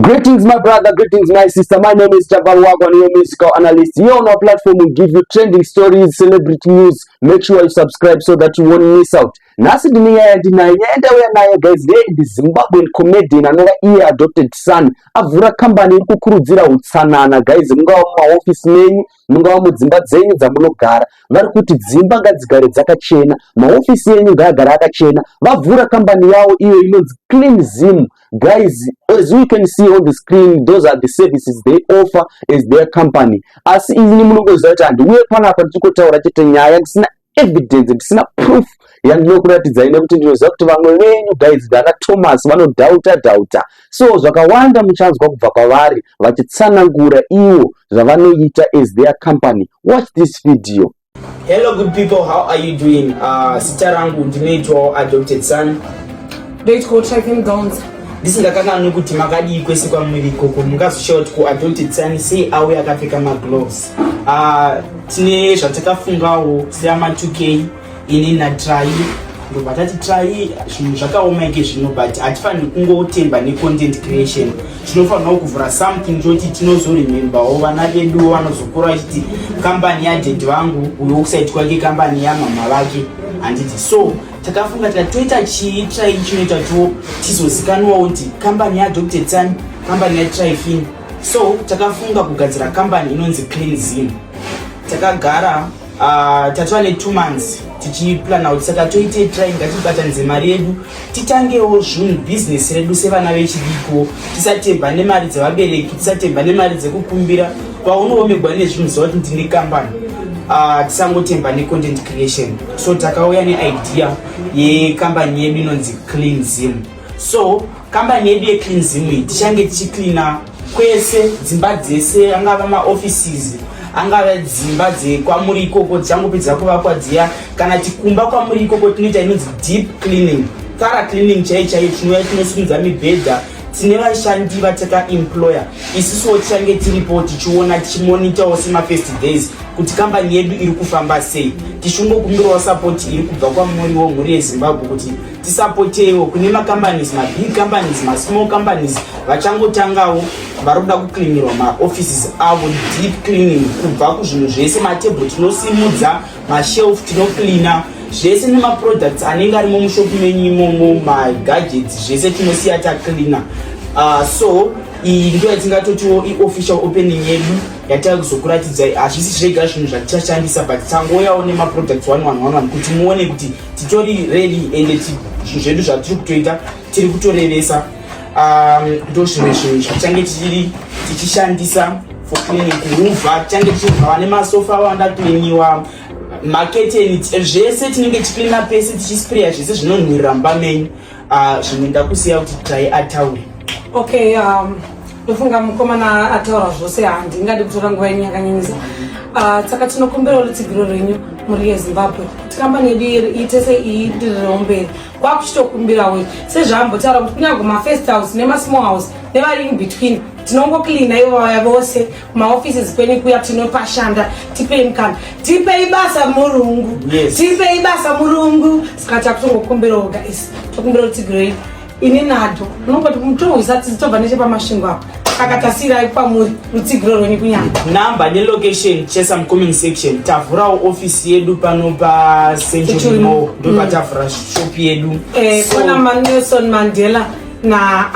Greetings, my brother. Greetings, my sister. My name is Jabal Wagwan, your musical analyst. Here on our platform, we give you trending stories, celebrity news. Make sure you subscribe so that you won't miss out. Nasi ndine nyaya yandinayo nyaya yandauya nayo guys ndeye ndi Zimbabwean comedian anova iye adopted son avhura kambani iri kukurudzira utsanana guys mungava mumaofisi menyu mungava mudzimba dzenyu dzamunogara vari kuti dzimba ngadzigare dzakachena mahofisi enyu ngaagare akachena vavhura kambani yawo iyo inonzi clean zim guys as you can see on the screen those are the services they offer as their company asi ini munongoziva kuti handiuye panapa ndichikotaura chete nyaya ndisina evidence ndisina proof yandinokuratidzai nekuti ndinoziva kuti vamwe venyu guys vana thomas vanodhauta dhauta so zvakawanda muchanzwa kubva kwavari vachitsanangura ivo zvavanoita as their company watch this video hello good people how are you doing uh, sita rangu ndinoitwawo adopted son ndoitwawo tracking downs ndisingakanganwi kuti makadii kwese kwamuri ikoko mungazoshawa kuti kuadopted son sei auya akapfeka magloves uh, tine zvatakafungawo seama 2k ini natrai ndobva tati trai zvinhu zvakaoma ike zvino but hatifaniri kungotemba necontent creation tinofanirawo kuvhura something choti tinozoremembawo vana veduwo vanozokura vachiti kambani yadhedhi vangu uyo kusaiti kwake kambani yamama vake handiti so takafunga tika toita chii trai chinoita to tizozikanwawo kuti kambani yadr tsani kambani yatrifini so takafunga kugadzira kambani inonzi clean zim takagara uh, tatova netwo months tichiplana kuti saka toite trai ngatibatanidze mari yedu titangewo zvunhu business redu sevana vechidiko tisatemba nemari dzevabereki tisatemba nemari dzekukumbira paunoomegwa nezvinhu zva kuti ndine kambani uh, tisangotemba necontent creation so takauya neidea yekambani yedu inonzi clean zim so kambani yedu yeclean zim iyi tichange tichicleana kwese dzimba dzese angava maoffices angava dzimba dzekwamuri ikoko dzichangopedza kuvakwa dziya kana tikumba kwamuri ikoko tinoita inonzi deep cleaning thara cleaning chaiyo chaiyo tinouya tinosimudza mibhedha tine vashandi vatakaemployer isusuwo tichange tiripo tichiona tichimonitawo semafirst days kuti kambani yedu iri kufamba sei tichingokumbirawo sapoti iri kubva kwamuriwo mhuri yezimbabwe kuti tisapotewo kune macompanies mabig companies masmall companies vachangotangawo vari kuda kucleanirwa maoffices avo deep cleaning kubva kuzvinhu zvese matable tinosimudza mashelf tinocleana zvese nemaproducts anenge arimo mushopi menyu imomo magadgets zvese tinosiya tacleana uh, so iyi ndo yatingatotiwo iofficial opening yedu yatava kuzokuratidzai hazvisi zvega zvinhu zvatichashandisa but tangouyawo nemaproducts one one one one kuti muone kuti titori ready ende zvinhu zvedu zvatiri kutoita tiri kutorevesa um, ndo zvimwe zvinhu zvachange tichiri tichishandisa for cleaning kuruva tichange tichirwa vane masofa awanda cleaniwa maketeni zvese tinenge tichicleana pese tichisprayer zvese zvinonhuririra mumba menyu Ah, zvimwe ndakusiya kuti tai ataure okay um, ndofunga mukomana ataura zvose handingadi kutora nguva yenyu yakanyanyisa ah, saka tinokumbirawo rutsigiro rwenyu mhuri yezimbabwe kuti kambani yedu iite seiidirireo mberi kwakuchitokumbirawo sezvaambotaura kuti kunyange mafirst house nemasmall house nevari in between tinongocleana ivaya vose maoffices kwenyu kuya tinopashanda tipei mukana tipei basa murungu yes. tipei basa murungu saka takutongokumbira oga is tokumbira kuti tigirei ini nado unongoti mutohwisa tizitobva nechepamasvingo apo saka tasiirai kwamuri rutsigiro rwenyu kunyama number nelocation chesa mucoming section tavhurawo ofisi yedu pano pacenturymo ndopatavhura mm. shop yedu eh, kona so, maneson mandela na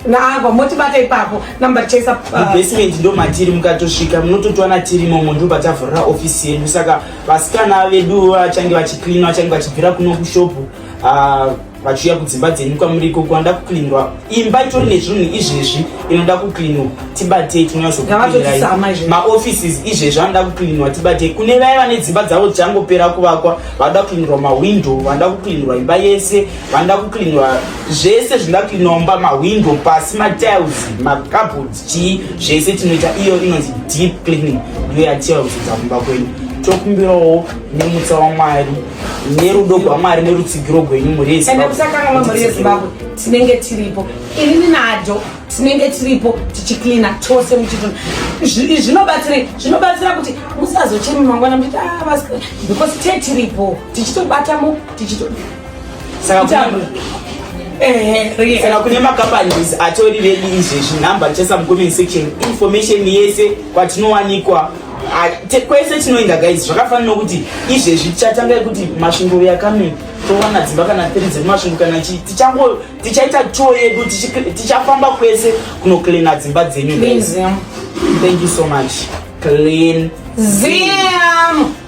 naagwa motibata ipapo number chesa uh, mubasement ndo matiri mukatosvika munototwana tiri momo ndobva tavhurira ofisi yedu saka vasikana vedu vachange vachicleana vachange vachibvira kuno kushopu uh, vachiuya kudzimba dzenyu kwamuri ikoko vanoda kucleanwa imba itori nezvinhu izvezvi inoda kucleanwa tibatei tinonyatsomaoffices izvezvi anoda kucleanwa tibatei kune vaya vane dzimba dzavo dzichangopera kuvakwa vanoda kucleanwa mawindow vanoda kucleanwa imba yese vanoda kucleanwa zvese zvinoda kucleanwa mumba mahwindo pasi matiles macabord chii zvese tinoita iyo inonzi deep cleaning ndiyo yatiles dza kumba kwenyu tokumbirawo nemutsa wamwari nerudo gwamwari nerutsigiro gwenyu murizimbabwe tinenge tiripo inini nado tinenge tiripo tichicleana tose muchitona zvinobatsirei zvinobatsira kuti musazochemi mangwana muchiti ah, because te tiripo tichitobatamo tichito saka kune macompanies atori vedu izvezvi number richasa mucomment section information yese kwatinowanikwa kwese tinoenda guys zvakafanana nokuti izvezvi tichatanga yekuti masvingo yakame towana dzimba kana thiri dzemasvingo kana chii tichango tichaita tour yedu tichafamba kwese kunocleana dzimba dzenyu thank you so much clean zim